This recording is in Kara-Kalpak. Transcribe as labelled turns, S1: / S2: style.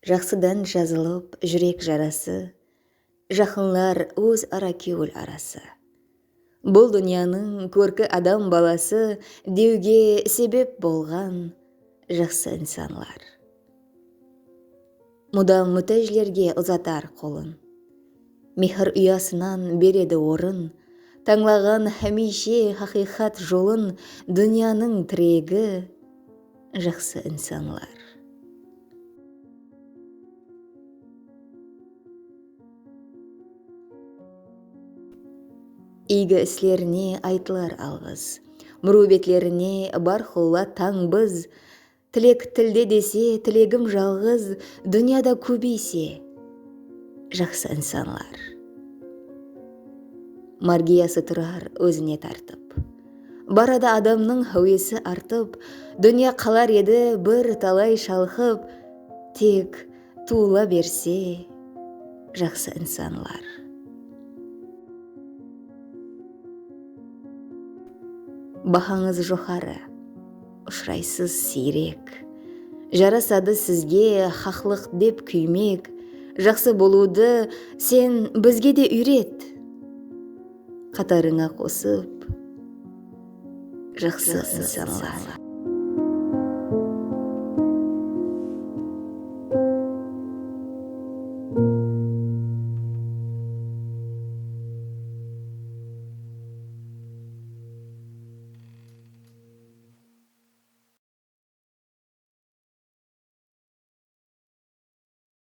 S1: Jaqsıdan jazılıp júrek jarası, Jaqınlar óz ara kewil arası. Bul dúnyanıń kórki adam balası dewge sebep bolǵan jaqsı insanlar. Mudam mútájlerge uzatar qolın. Mehir uyasınan beredi orın. Tańlaǵan hámiyshe haqıyqat jolın dúnyanıń tiregi jaqsı insanlar. Iygi islerine aytılar alǵıs. Múriwbetlerine bárqulla tań biz. Tilek tilde dese, tilegim jalǵız, Dúnyada kóbeyse jaqsı insanlar. Margiyası turar ózine tartıp. Baradı adamnıń háwesi artıp, Dúnya qalar edi bir talay shalqıp, Tek. Tuwıla berse jaqsı insanlar. Bahańız joqarı. Ushıraysız siyrek. Jarasadı sizge xaqlıq dep kúymek, jaqsı bolıwdı sen bizge de úyret! Qatarıńa qosıp jaqsı insanlar.